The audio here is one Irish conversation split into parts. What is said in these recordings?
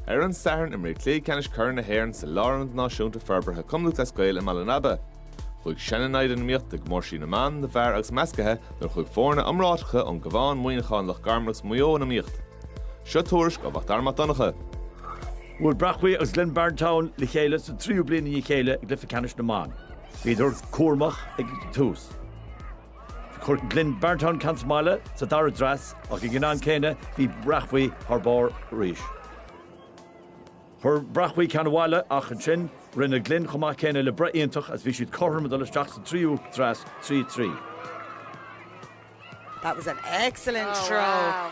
Ar an Satharn imríodh Cluiche Ceannais Corr na hÉireann sa Lárionad Náisiúnta Forbartha Chumann Lúthchleas Gael i mBaile an Aba. Chuaigh sean-naimhde in iomaíocht i gcomórtaisí na mban, na bhfear agus meascaithe nuair a chuaigh foirne iomráiteacha ón gCabhán, Muineachán, Loch Garman agus Maigh Eo in iomaíocht. Seo tuairisc ó Mhacdara Mac Donncha. Bhuail Bréachmhaigh agus Glynn Barntown le chéile sa tríú bliain i ndiaidh a chéile i gcluiche ceannais na mban. Bhíodar cúramach ag an tús. Chuir Glynn Barntown ceann sa mbaile sa dara dreas ach ag an am céanna bhí Bréachmhaigh thar barr arís. Chuir Bréachmhaigh ceann abhaile ach ansin rinne Glynn chomh maith céanna le breith iontach agus bhí siad cothrom ag dul isteach sa tríú dreas, 3-3. That was an excellent throw.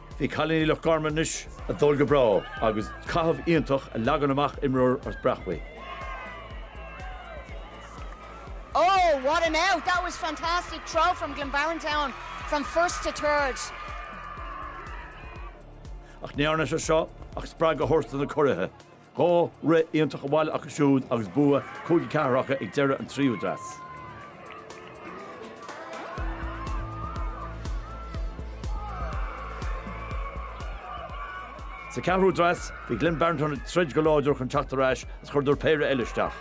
Bhí cailíní Loch Garman anois ag dul go breá agus caitheamh iontach a leagann amach imreoir as Bréachmhaigh. Oh what an out that was fantastic throw from Glynn Barntown from first to third. Ach ní dhearna sé seo ach spreagadh a thabhairt do na curaithe. Dhá rith iontach abhaile acu siúd agus bua cúig, ceathair acu ag deireadh an tríú dreas. Sa ceathrú dreas, bhí Glynn Barntown ag troid go láidir chun teacht ar ais is chuireadar péire eile isteach.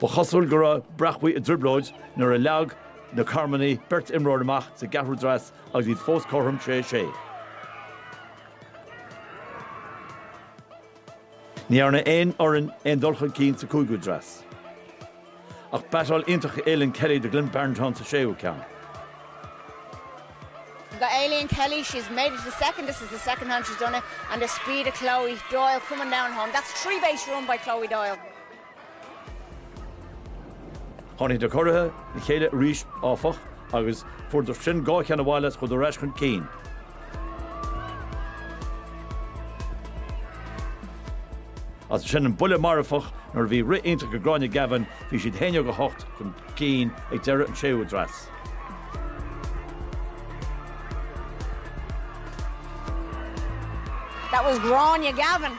Ba chosúil go raibh Bréachmhaigh i dtrioblóid nuair a leag na Carmanaigh beirt imreoir amach sa gceathrú dreas agus iad fós cothrom sé sé. Ní dhearna aon fhoireann aon dul chun cinn sa cúigiú dreas. Ach batáil iontach ó Aileen Kelly do Glynn Barntown sa séú ceann. By Aileen Kelly, she has made it to the second, this is the second time she has done it, and the speed of Chloe Doyle coming down home, that's three base run by Chloe Doyle. Tháinig na curaithe le chéile arís, áfach, agus fuaireadar sin dhá cheann abhaile agus chuadar ar ais chun cinn. As sin an buille marfach nuair a bhí rith iontach ag Gráinne Gavin, bhí siad 11-8 chun cinn ag deireadh an séú dreas. That was Gráinne Gavin.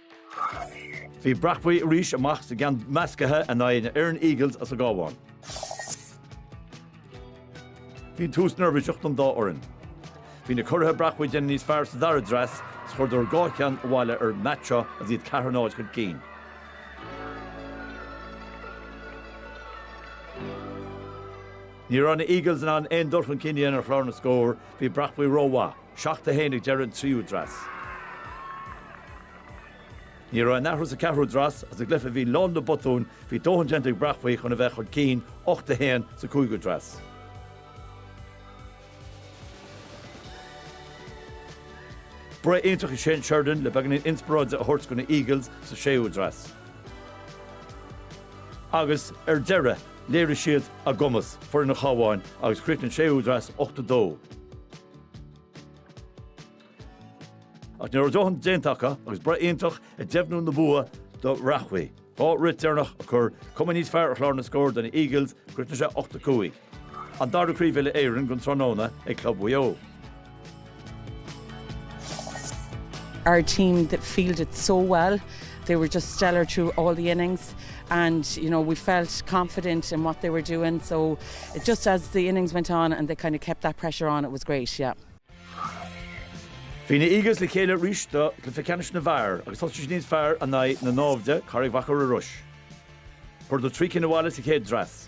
Bhí Bréachmhaigh arís amach sa gceann meascaithe in aghaidh na Erne Eagles as an gCabhán. Bhí tús neirbhíseach don dá fhoireann. Bhí na curaithe Bréachmhaigh ag déanamh níos fearr sa dara dreas is chuireadar dhá cheann abhaile ar an mbat seo agus iad ceathair náid chun cinn. Ní raibh na Eagles in ann aon dul chun cinn a dhéanamh ar chlár na scór, bhí Bréachmhaigh rómhaith. Seacht a haon ag deireadh an tríú dreas. Ní raibh aon athrú sa ceathrú dreas agus i gcluiche a bhí lán le botúin, bhí dóthain déanta ag Bréachmhaigh chun a bheith chun cinn, ocht a haon sa cúigiú dreas. Breith iontach ag Shane Sheridan le beagáinín inspioráide a thabhairt do na Eagles sa séú dreas. Agus ar deireadh, léirigh siad a gcumas, foireann an Chabháin, agus chríochnaigh an séú dreas ocht a dó. Ach ní raibh dóthain déanta acu agus breith iontach ag deimhniú na bua do Bhréachmhaigh. Dhá rith deireanach a chuir cuma níos fearr ar chlár na scór do na Eagles chríochnaigh sé ocht a cúig. An dara craobh uile Éireann don tráthnóna ag club Mhaigh Eo. Our team that fielded so well, they were just stellar through all the innings and you know we felt confident in what they were doing so Just as the innings went on and they kind of kept that pressure on it was great, yeah. Bhí na Eagles le chéile arís do cluiche ceannais na bhfear agus thosaigh siad níos fearr in aghaidh na naimhde, Carraig Mhachaire Rois. Chuadar trí cinn abhaile sa chéad dreas.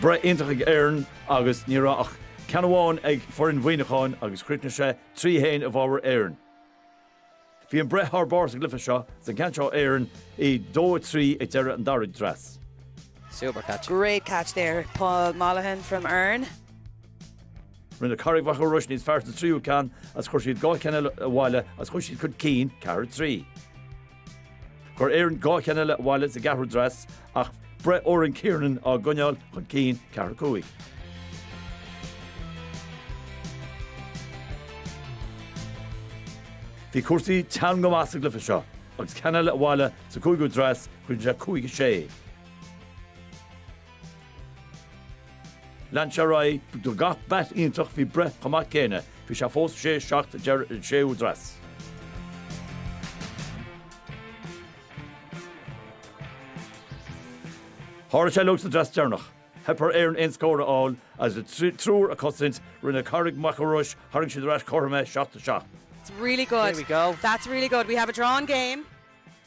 Breith iontach ag Erne agus ní raibh ach ceann amháin ag foireann Mhuineacháin agus chríochnaigh sé 3-1 i bhfabhar Erne. Bhí an breith thar barr sa gcluiche seo sa gceann seo Erne a 2 3 ag deireadh an dara dreas. Super catch. Great catch there Paul Molahan from Erne. Rinne Carraig Mhachaire Rois níos fearr sa tríú ceann agus chuir siad dhá cheann eile abhaile agus chuir siad chun cinn, 4 3. Chuir Erne dhá cheann eile abhaile sa gceathrú dreas ach breith Oran Kiernan á gcoinneáil chun cinn, ceathair cúig. Bhí cúrsaí teann go maith sa gcluiche seo agus ceann eile abhaile sa cúigiú dreas, cuireann sé cúig a sé. Lean sé ar aghaidh, Do gach beat iontach bhí breith chomh maith céanna, bhí sé fós sé seacht deireadh an séú dreas. Tharla sé uilig sa dreas deireanach. Theip ar Erne aon scór a fháil agus a dtriúr ag cosaint, rinne Carraig Mhachaire Rois, tharraing siad ar ais cothrom é seacht a seacht. That's really good. Here we go. That's really good. We have a drawn game.